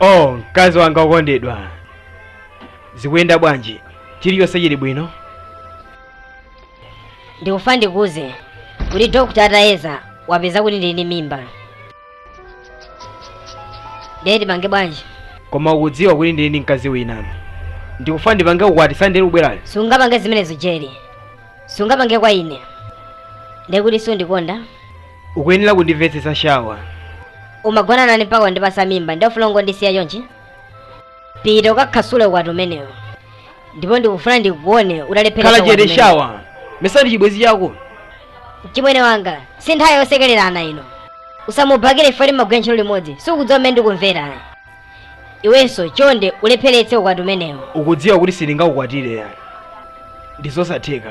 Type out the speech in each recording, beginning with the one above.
oh mkazi wanga wokondedwa zikuyenda bwanji chilichonse chili bwino ndikufuna ndikuuze kuti dokta atayeza wapeza kuti ndili ndi mimba ndiye tipange bwanji koma ukudziwa kuti ndili ndi mkazi wina ndikufuna ndipange ukwati sande likubwerali sungapange zimenezo jeri sungapange kwa ine ndiye kuti sundikonda ukuyenera kundimvetsetsa shawa umagona nane mpaka wandipasa mimba ndiye ufuna ungondisiya chonchi pita ukakhasule ukwati umenewo ndipo ndikufuna ndikuone utalephera khala chete shawa mesa ndi chibwenzi chako mchimwene wanga si nthawi yosekelerana ino usamubhakire chifukwa mumagwira ntchito limodzi siukudziwa mmene ndikumvera iwenso chonde ulepheretse ukwati umenewo ukudziwa kuti sindingakukwatire ndi zosatheka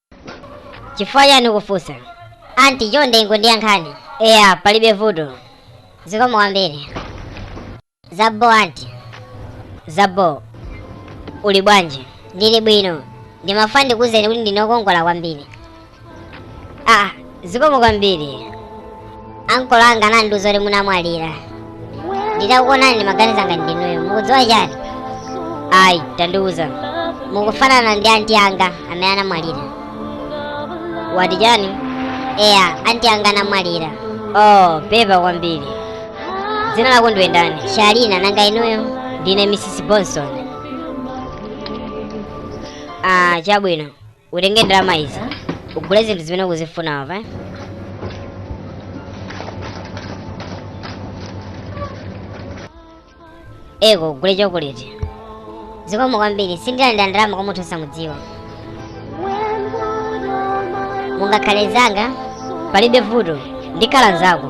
chifukwa chani ukufunsa anti chonde ingondiyankhani eya palibe vuto zikomo kwambiri zabo anti zabo uli bwanji ndili bwino ndimafuna ndikuuzeni kuti ndinu wokongola kwambiri ah zikomo kwambiri ankolo anga anandiuza kuti munamwalira nditakuonani ndimaganiza ngati ndinuyo mukudziwa chani ayi tandiuza mukufanana ndi anti anga amene anamwalira wati chani eya anti anga anamwalira oh pepa kwambiri dzina lako ndiwe ndani shalina nanga inuyo ndine mrs bonson ah chabwino utenge ndalama izi ugule zinthu zimene ukuzifuna apa eh? eko gule chokoleti zikomo kwambiri sindilandira ndalama kwa munthu osamudziwa mungakhale nzanga palibe vuto ndikhala nzako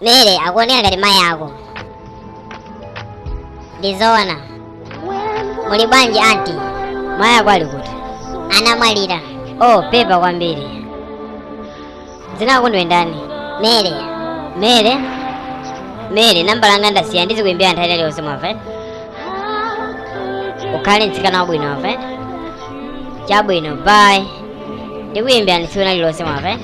Mary akuoneka ngati mayi ako. Ndizoona. Muli bwanji anti? Mayi ako ali kuti? Anamwalira. Oh, pepa kwambiri. Dzina lako ndiwe ndani? Mary. Mary? Mary, namba langa ndasiya ndizikuimbira nthawi ina iliyonse mwamva? eh? Ukhale mtsikana wabwino mwamva? eh? Chabwino, bye. Ndikuimbira tsiku lina lililonse mwamva? eh?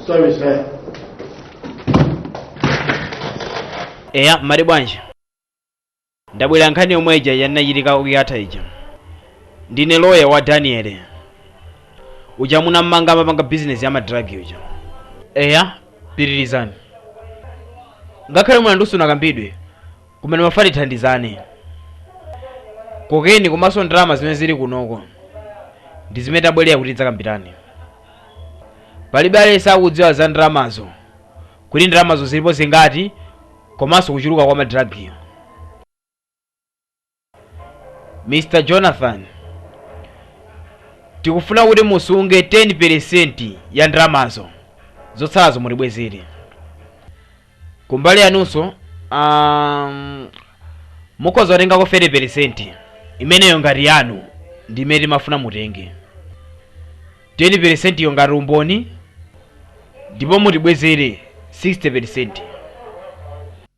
Sorry, sir. eya mmati bwanji ndabwera nkhani yomwe ija inachitika kuyatha ija ndine loya wa daniel uja munammanga amapanga bizinesi ya ma drug uja eya pitirizani ngakhale mulanduwo sunakambidwe kumene mumafuna tithandizane kokeni komanso ndalama zimene zili kunoko ndi zimene tabwerera kuti tidzakambirane palibe aliyense akudziwa za ndalamazo kuti ndalamazo zilipo zingati komanso kuchuluka kwa madiragiyo mr jonathan tikufuna kuti musunge 10% ya ndalamazo zotsalazo mutibwezere kumbali yanunso um, mukhoza kutengako 30% imeneyo ngati yanu ndi imene tikufuna mutenge 10% yo ngati umboni ndipo mutibwezere 60%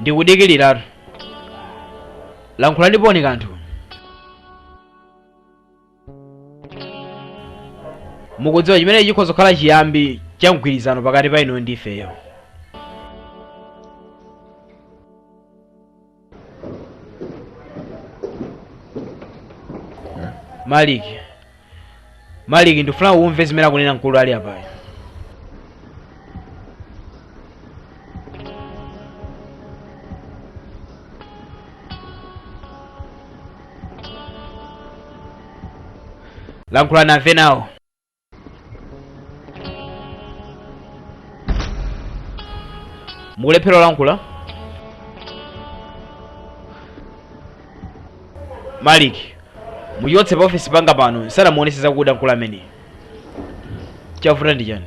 ndikudikiliratu, lankhulanipo kanthu mukudziwa chimene chikhoza kukhala chiyambi cha mgwirizano pakati pa inuyo ndi ifeyo malik malik ndikufuna umve zimene akunena mkulu ali apayo lankhula nave nawo mukulephera kulankhula malik muchotse pa ofesi panga pano ndisanamuonese zakuda mkulu ameneyi chavuta ndi chani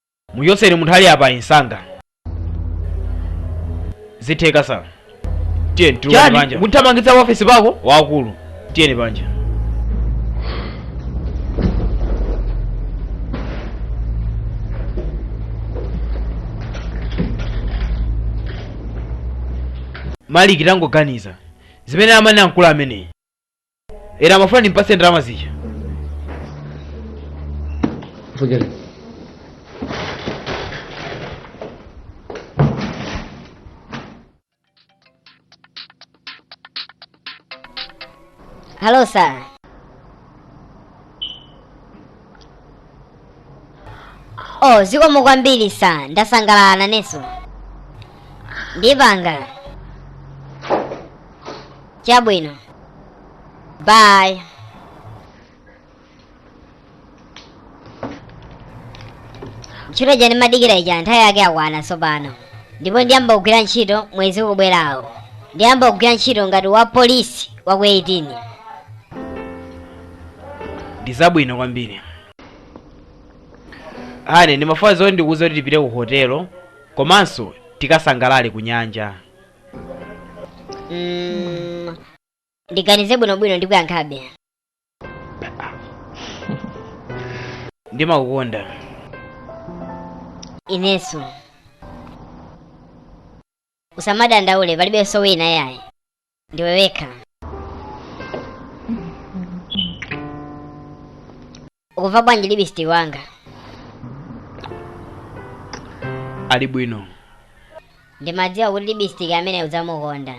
Muchotseni munthu ali apayi msanga. Zitheka sir. Tiyeni tulukani Chani, panja. kundithamangitsa pa office pako? Wakulu. Tiyeni panja. Malik tangoganiza. Zimene amanena mkulu ameneyi. eti amafuna ndimpase ndalama zija Forget it. Hello, sir. oh zikomo kwambiri sa ndasangalala nanenso ndipanga chabwino bye ntchito ija ndimadikira ija nthawi yake yakwana tsopano ndipo ndiyamba kugwira ntchito mwezi ukubwerawo ndiyamba kugwira ntchito ngati wa polisi wa ku 18 ndizabwino kwambiri ane ndimafuna zoti ndikuuze kuti tipite ku hotelo komanso tikasangalale ku nyanja Mm, ndiganize bwinobwino ndikuyankhabe ndimakukonda inenso usamadandaule palibenso wina yayi ndiwe wekha ukumva bwanji lipstick wanga ali bwino ndimadziwa kuti lipstick amene udzamukonde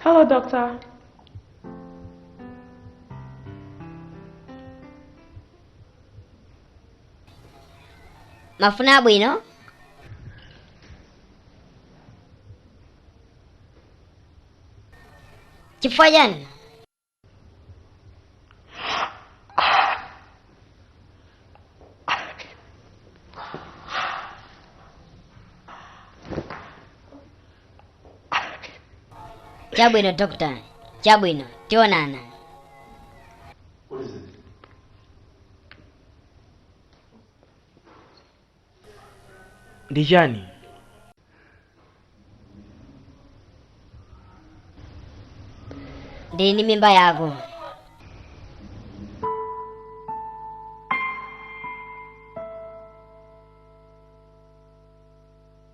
Hello, doctor. mafuna abwino chifukwa chani chabwino dokota chabwino tionana ndi chani ndili ndi mimba yako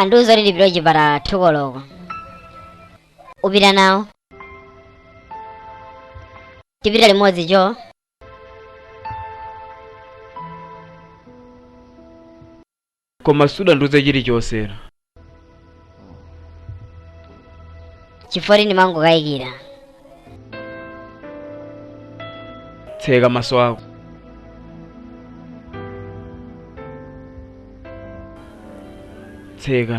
andiuza kuti ndipite kuchipatala thukoloko upita nawo tipita limodzi cho koma sudandiuze chilichonse chifukwa choti ndimangokayikira tseka maso ako tseka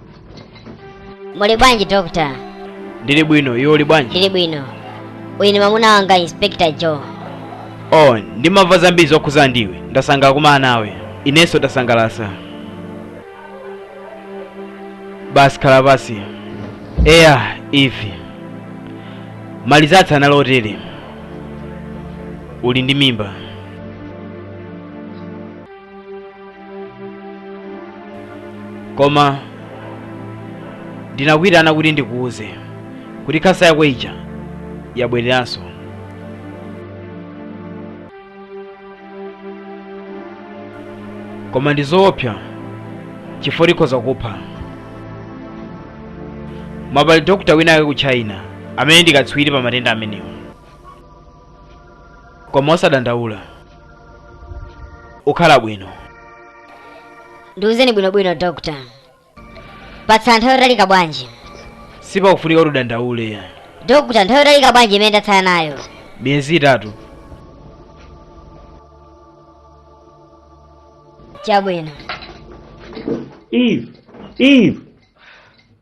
muli bwanji dokta ndili bwino iwe uli bwanji ndili bwino uyu ni mwamuna wanga inspector joe oh ndimamva zambiri zokhuza ndiwe ndasangalala kukumana nawe inenso ndasangalala basi khala pansi eya Eve marizatsi anali otere uli ndi mimba koma ndinakuitana kuti ndikuuze kuti khansa yako ija yabwereranso koma ndi zoopsa chifukwa tikhoza kupha mwana pali dokta wina ake ku china amene ndi katswiri pa matenda amenewa koma osadandaula ukhala bwino ndiuzeni bwinobwino dokta patsala nthawi yotalika bwanji sipakufunika kuti udandaule dokta nthawi yotalika bwanji imene ndatsala nayo miyezi itatu chabwino Eve, Eve,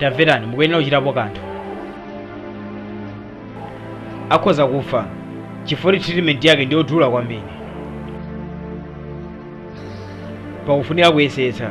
tamverani mukuyenera kuchitapo kanthu akhoza kufa chifukwa treatment yake ndi yodula kwambiri pakufunika kuyesetsa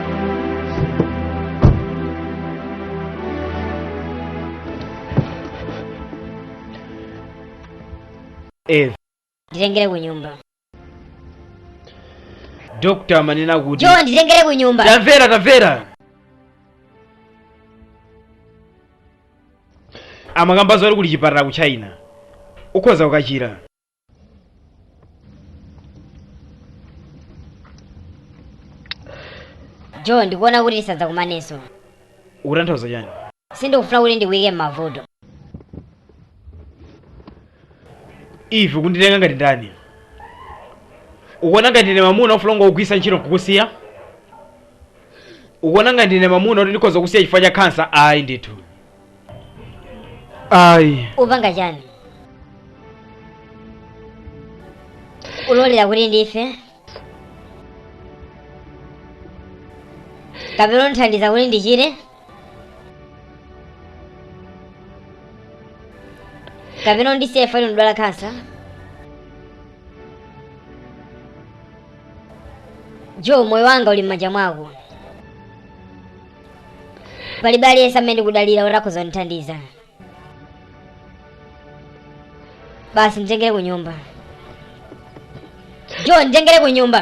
Eve. nditengere ku nyumba Dr. amanena kuti Joe nditengere ku nyumba tamvera tamvera amakamba zoti kuli chipatala ku china ukhoza kukachira joe ndikuona kuti tisadzakumanenso ukutanthauza chani sindikufuna kuti ndikuyike m'mavuto Eve ukunditenga ngati ndani ukuona ngati ndine mamuna ofuna kungokugwiritsa ntchito nkukusiya ukuona ngati ndine mamuna kuti ndikhoza kukusiya chifukwa cha khansa ayi ndithu ayi upanga chani ulolera kuti ndife kapena undithandiza kuti ndichire kapena undisiye fali ndidwala khansa joe moyo wanga uli m'manja mwako palibe aliyense amene ndikudalira kuti akhoza kundithandiza basi nditengere ku nyumba Joe nditengere ku nyumba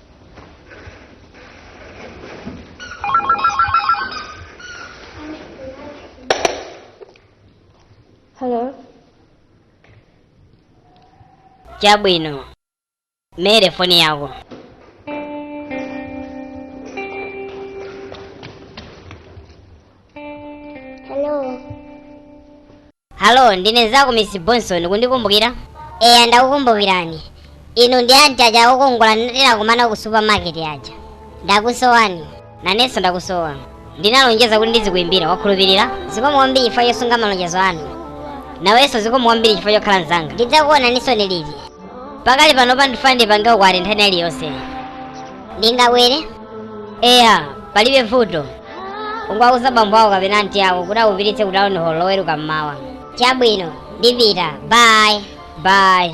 Hello. Chabwino. Mere foni yako. Hello. Hallo, ndine nzako Miss Bonson, kundikumbukira? Eya, ndakukumbukirani. Inu ndi anti aja okongola tinakumana ku supermarket aja. Ndakusowani. Nanenso ndakusowa. Ndinalonjeza kuti ndizikuimbira, wakhulupirira? Zikomo kwambiri chifukwa chosunga malonjezo anu. Nawenso zikomo kwambiri chifukwa chokhala mzanga. Ndidzakuonaninso liti. Pakali pano ndifuna ndipange ukwati nthawi iliyonse. Ndingabwere? eya palibe vuto ungowauza bambo ako kapena anti ako kuti akupititse ku town hall loweruka mmawa chabwino ndipita bye bye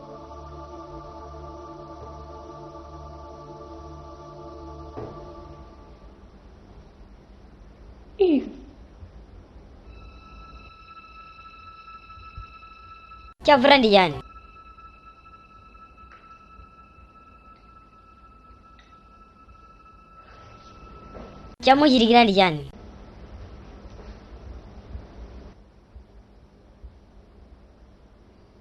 Chavuta ndi chani? Chamuchitikira ndi chani?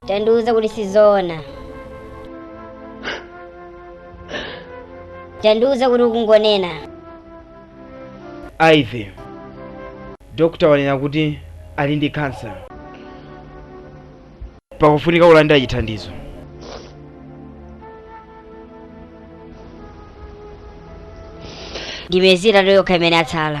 Tandiuze kuti sizoona. Tandiuze kuti ukungonena. Ivy. Dokota wanena kuti ali ndi kansa. Pakufunika kulandira chithandizo. Ndi njira yokhayo imene yatsala.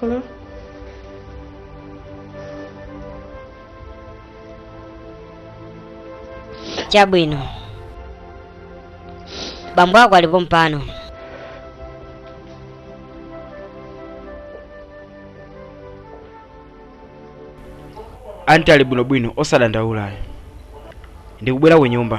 Hello? chabwino bambo ako ali pompano anti ali bwinobwino osadandaula ndikubwera ku nyumba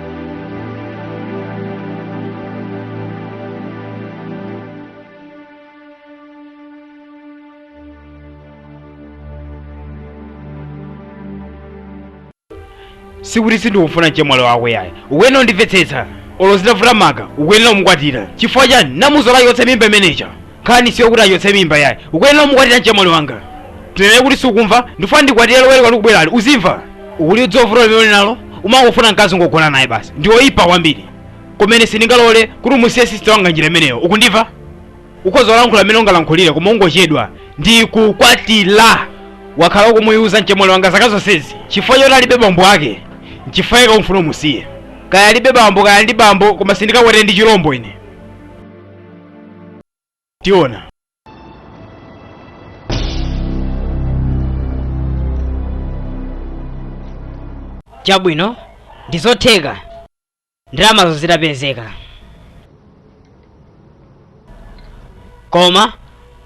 sikuti sindikufuna mchemwali wako yayi ukuyenera kundimvetsetsa olo zitavuta maka ukuyenera kumukwatira chifukwa chani unamuchotsetsa mimba imene ija nkhani si yokuti achotse mimba yayi ukuyenera umukwatire mchemwali wanga tinene kuti sukumva ndifuna ndikwatire loweruka likubwerali uzimva uli ndi zovuta zimene nazo umangofuna mkazi ungogona naye basi ndiwoyipa kwambiri kumene sindingalole kuti umusiye sisita wanga njira imeneyo ukundimva ukhoza kulankhula mmene ungalankhulire koma ungochedwa ndikukwatira wakhala ukumuyuza mchemwali wanga zaka zonsezi chifukwa choti alibe bambo ake nchifukwa chake ukufuna umusiye kaya alibe bambo kaya ndi bambo koma sindikakwatire ndi chilombo ine tiona chabwino ndi zotheka ndalamazo zidapezeka koma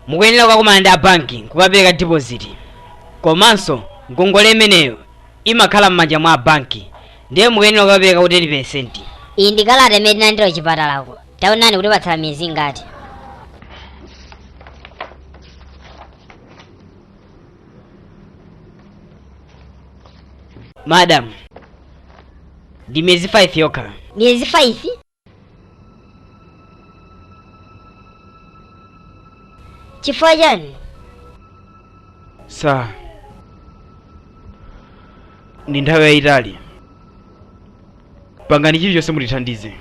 mukuyenera kukakumana ndi abanki kukapereka dipoziti komanso ngongole imeneyo imakhala m'manja mwa abanki ndiye mukuyenera kukapereka kuti 10 iyi ndi kalata imene tinalandira kuchipatalako taonani kwatitsala miyezi ingati madam ndi miyezi 5 yokha miyezi 5 chifukwa chani sa ndi nthawi yayitali pangani chilichonse mutithandize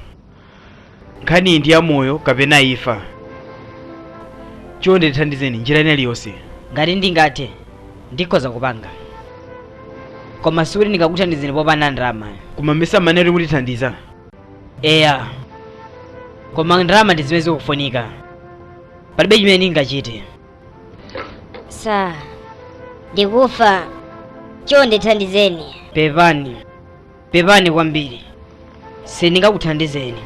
nkhaniyi ndi ya moyo kapena imfa chonde tithandizeni njira ina iliyonse ngati ndingathe ndikhoza kupanga koma sikuti ndingakuthandizeni popanda ndalama koma mmesa munanena kuti mutithandiza eya koma ndalama ndi zimene zikufunika palibe chimene ndingachite sa ndikufa chonde ndithandizeni pepani pepani kwambiri sindingakuthandizeni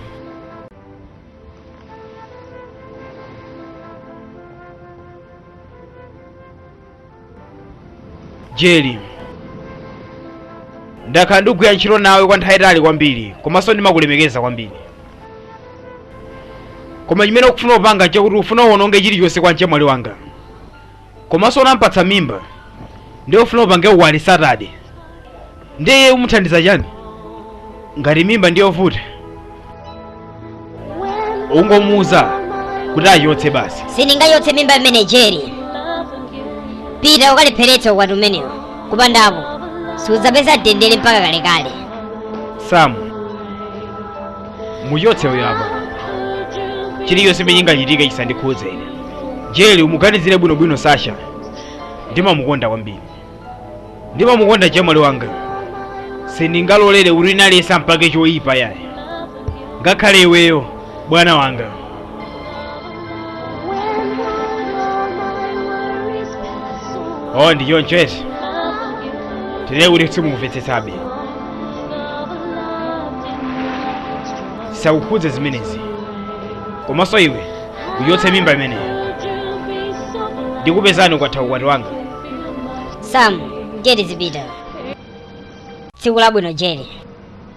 jeri ndakhala ndikugwira ntchito nawe kwa nthawi yayitali kwambiri komanso ndimakulemekeza kwambiri koma chimene ukufuna kupanga nchakuti ufuna uwononge chilichonse kwa mchemwali wanga komanso unampatsa mimba ndiye ufuna upange ukwati satade ndiye iye umuthandiza chani ngati mimba ndi yovuta ungomuuza kuti achotse basi sindingachotse mimba imeneyi jeri pita ukalepheretse ukwati umenewo kupanda apo sudzapeza mtendere mpaka kalekale samu muchotse uyo apa chilichonse chimene chingachitike chisandikhudze ine jeli umuganizire bwinobwino sasha ndimamukonda kwambiri ndimamukonda mchemwali wanga sindingalolere kuti wina aliyense ampange choyipa yayi ngakhale iweyo bwana wanga oh ndi choncho eti tinene kuti simukumvetsetsabe zakukhudza zimenezi komanso iwe uchotse mimba imeneyo ndikupeza ukatha ukwati wanga sam jeri zipita tsiku labwino jeri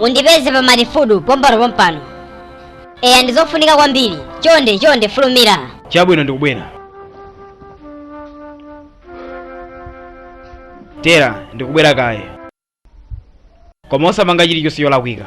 Undipeze pa Matifudu pompano pompano. Eya ndizofunika kwambiri. Chonde chonde fulumira. Chabwino ndikubwera. Tera ndikubwera kaye. Koma osapanga chilichonse cholakwika.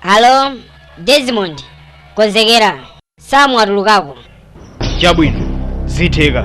Halo, Desmond, konzekera. Sam watulukako. chabwino zitheka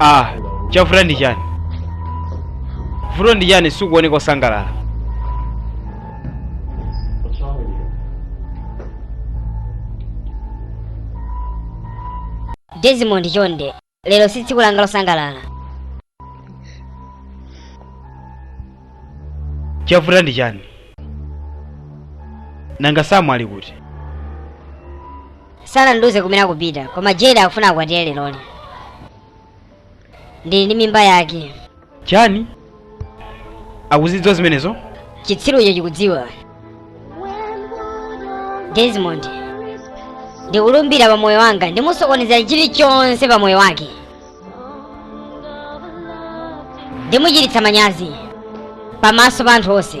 ah chavuta ndi chani vuto ndi chani sukuoneka osangalala What's wrong with you? desmond chonde lero si tsiku langa losangalala chavuta ndi chani nanga samu ali kuti sanandiuze kumene akupita koma Jeri akufuna akwatire leroli ndili ndi mimba yake chani akuzidziwa zimenezo chitsiru icho chikudziwa desmond ndikulumbira pa moyo wanga ndimusokonezera chilichonse pa moyo wake ndimuchititsa manyazi pamaso pa anthu onse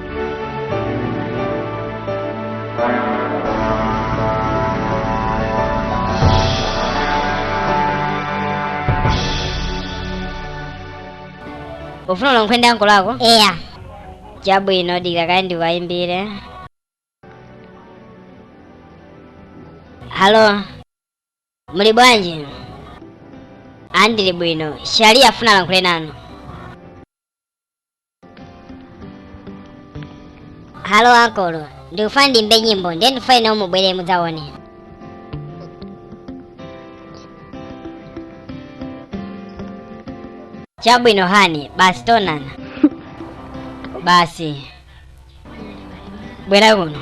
ufuna ulankhule ndi ankolo ako eya chabwino dikira kaye ndiwayimbire halo muli bwanji ndili bwino shali akufuna alankhule nanu halo ankolo ndikufuna ndimbe nyimbo ndiye ndifuna inuyo mubwere mudzaonere chabwino hani basi tionana basi bwera kuno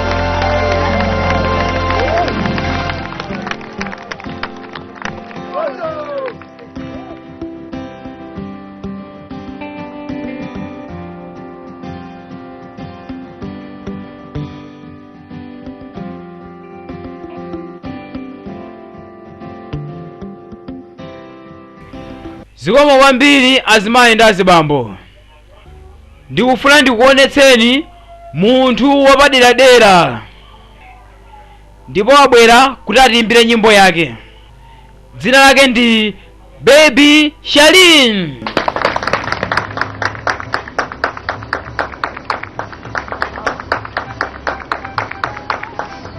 zikomo kwambiri azimayi ndi azibambo ndikufuna ndikuonetseni munthu wapaderadera ndipo wabwera kuti atiimbire nyimbo yake dzina lake ndi baby shalin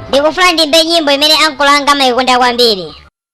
ndikufuna ndimbe nyimbo imene ankolo anga amayikonda kwambiri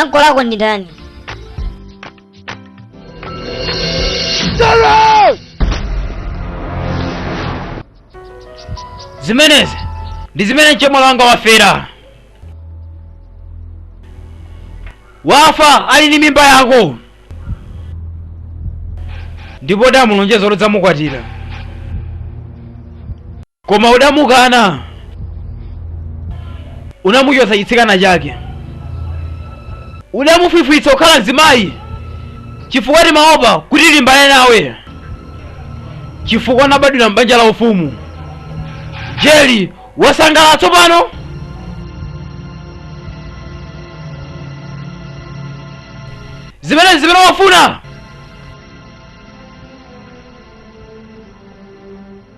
Ankolo ako ndi ndani? zimenezi ndi zimene mchemwali wanga wafera wafa ali ndi mimba yako ndipo udamulonjeza udzamukwatira Koma udamukana, unamuchotsa chitsikana chake, udamufwifwitsa kukhala mzimayi, chifukwa timaopa kuti tilimbane nawe, chifukwa unabadwira m'banja la ufumu. Jeli, wasangalala tsopano? Zimenezi zimene umafuna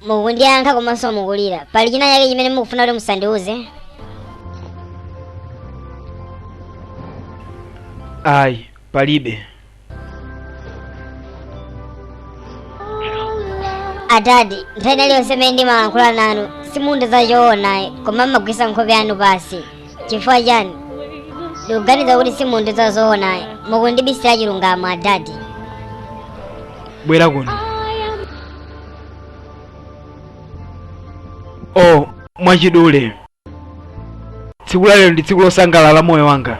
mukundiyankha komanso mukulira pali china chake chimene mukufuna kuti musandiuze ayi palibe adadi nthawi inaliyonse imene ndimalankhula nanu simundiuza zoona ayi koma mumagwetsa nkhope yanu pansi chifukwa chani ndikuganiza kuti simundiuza zoona ayi mukundibisira chilungamo adadi bwera kuno oh mwachidule tsiku la lero ndi tsiku losangalala la moyo wanga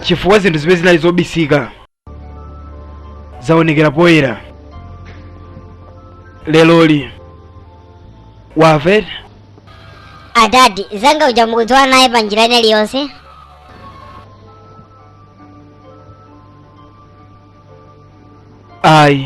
chifukwa zinthu zimene zinali zobisika zaonekera poyera lero kuti wavuta adadi zanga uja mukudziwa naye pa njira ina iliyonse ayi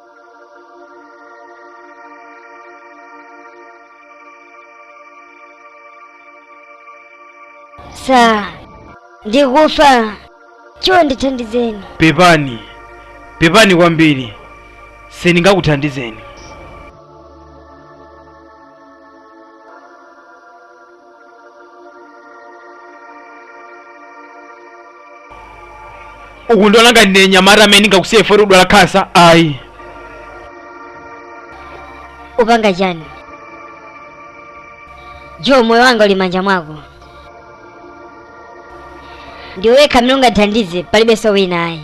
sa ndikufa Chuwa ndithandizeni pepani pepani kwambiri sindingakuthandizeni ukundiona ngati ndine mnyamata amene ndingakusiye poti ukudwala khansa ayi upanga chani jo moyo wanga uli m'manja mwako ndiwe wekha amene ungandithandize palibenso wina ayi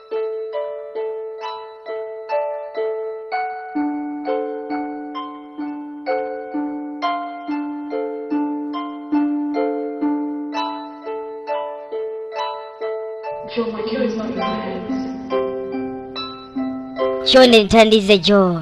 chonde ndithandize jo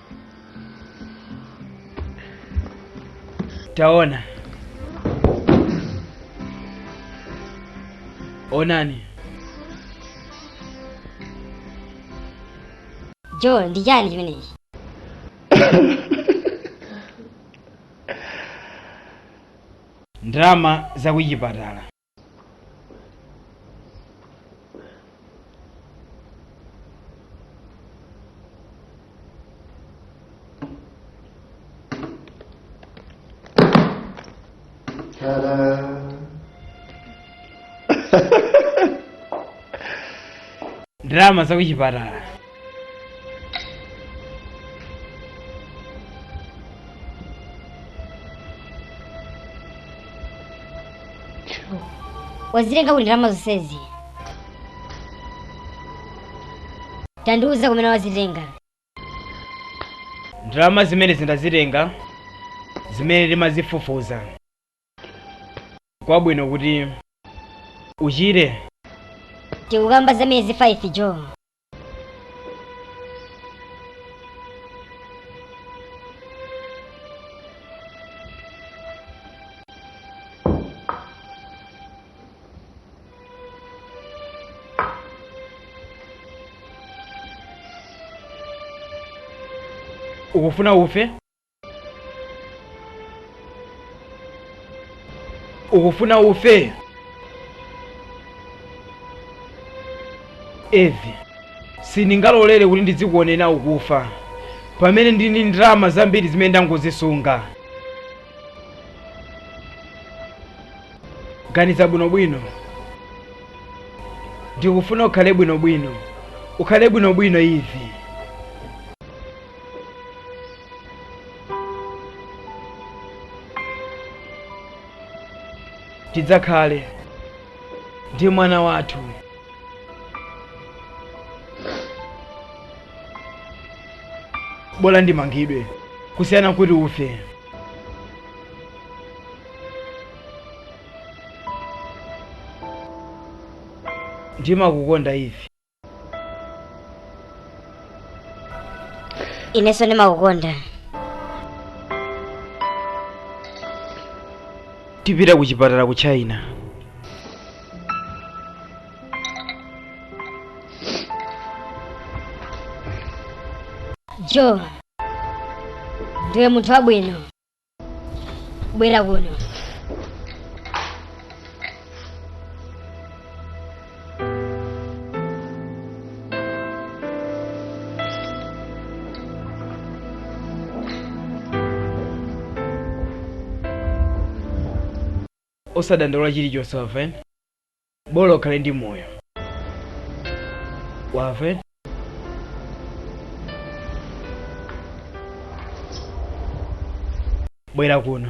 taona onani jo ndi chani chimenechi ndalama za kuchipatala ndalama zakuchipatala wazitenga kuti ndalama zonsezi tandiuza kumene wazitenga ndalama zimenezi ndazitenga zimene ndimazifufuza kwabwino kuti uchire tikukamba za miyezi 5 jo ukufuna ufe ukufuna ufe ivi sindingalolere kuti ndizikuonera ukufa pamene ndili ndi ndalama zambiri zimene ndangozisunga ganiza bwinobwino ndikufuna ukhale bwinobwino ukhale bwinobwino ivi tidzakhale ndi mwana wathu bola ndimangidwe kusiyana kuti ufe ndimakukonda ivi inenso ndimakukonda tipita ku chipatala ku china jo ndiwe munthu wabwino bwera kuno osadandaula chilichonse wamva bola ukhale ndi moyo wamva eti? bwera kuno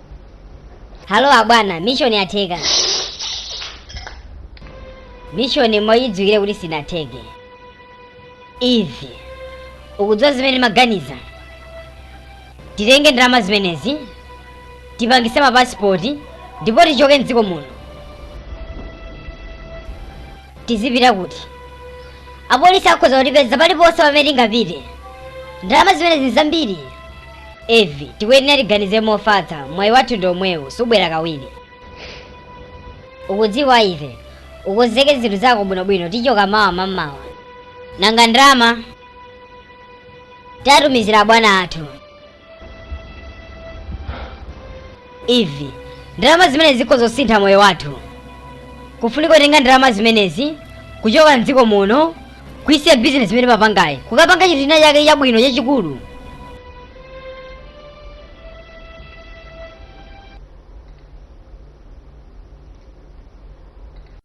halo abwana mishoni yatheka mishoni muyidziwitse kuti sinatheke ivi ukudziwa zimene maganiza titenge ndalama zimenezi tipangise mapasipoti ndipo tichoke mdziko muno tizipita kuti apolisi akhoza kutipeza paliponse pamene tingapite ndalama zimenezi ndi zambiri ivi tikuyenera tiganize mofatsa mwayi wathu ndi omwewu siubwera kawiri ukudziwa ivi ukonzeke zinthu zako bwinobwino tichoka mawa mamawa nanga ndalama tatumizira abwana athu ivi ndalama zimenezi zikhoza kusintha moyo wathu kufunika kutenga ndalama zimenezi kuchoka mdziko muno kuisiya bizinesi imene timapangayi kukapanga chinthu china chake chabwino chachikulu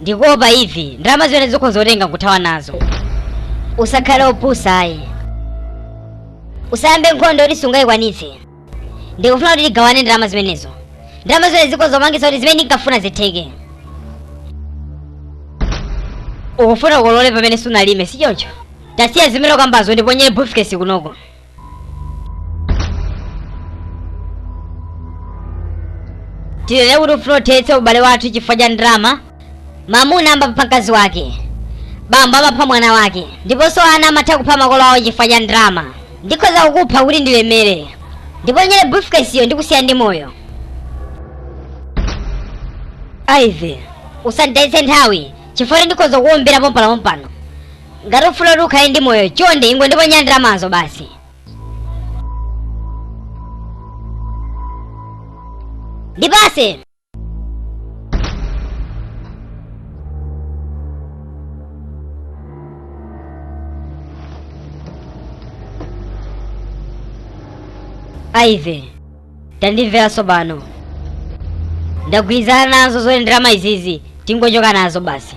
ndikuopa ivi ndalama zimenezi ukhoza kutenga nkuthawa nazo usakhale opusa ayi usayambe nkhondo yoti sungayikwanitse ndikufuna kuti tigawane ndalama zimenezo ndalama zimene zikhoza kupangitsa kuti zimene ndinkafuna zitheke ukufuna ukolole pamene sunalime si choncho tasiya zimene ukambazo ndiponyere briefcase kunoko tinene kuti ufuna uthetse ubale wathu chifukwa cha ndalama mamuna amapha mkazi wake bambo amapha mwana wake ndiponso ana amatha kupha makolo awo chifukwa cha ndalama ndikhoza kukupha kuti ndilemere ndiponyere briefcase-yo ndikusiya ndi moyo ivi usanditayitse nthawi chifukwa kuti ndikhoza kukuwombera pompano pompano ngati ufuna kuti ukhale ndi moyo chonde ingondiponyera ndalamazo basi ndipatse ivi tandimvera tsopano ndagwirizana nazo zoti ndalama izi tingochoka nazo basi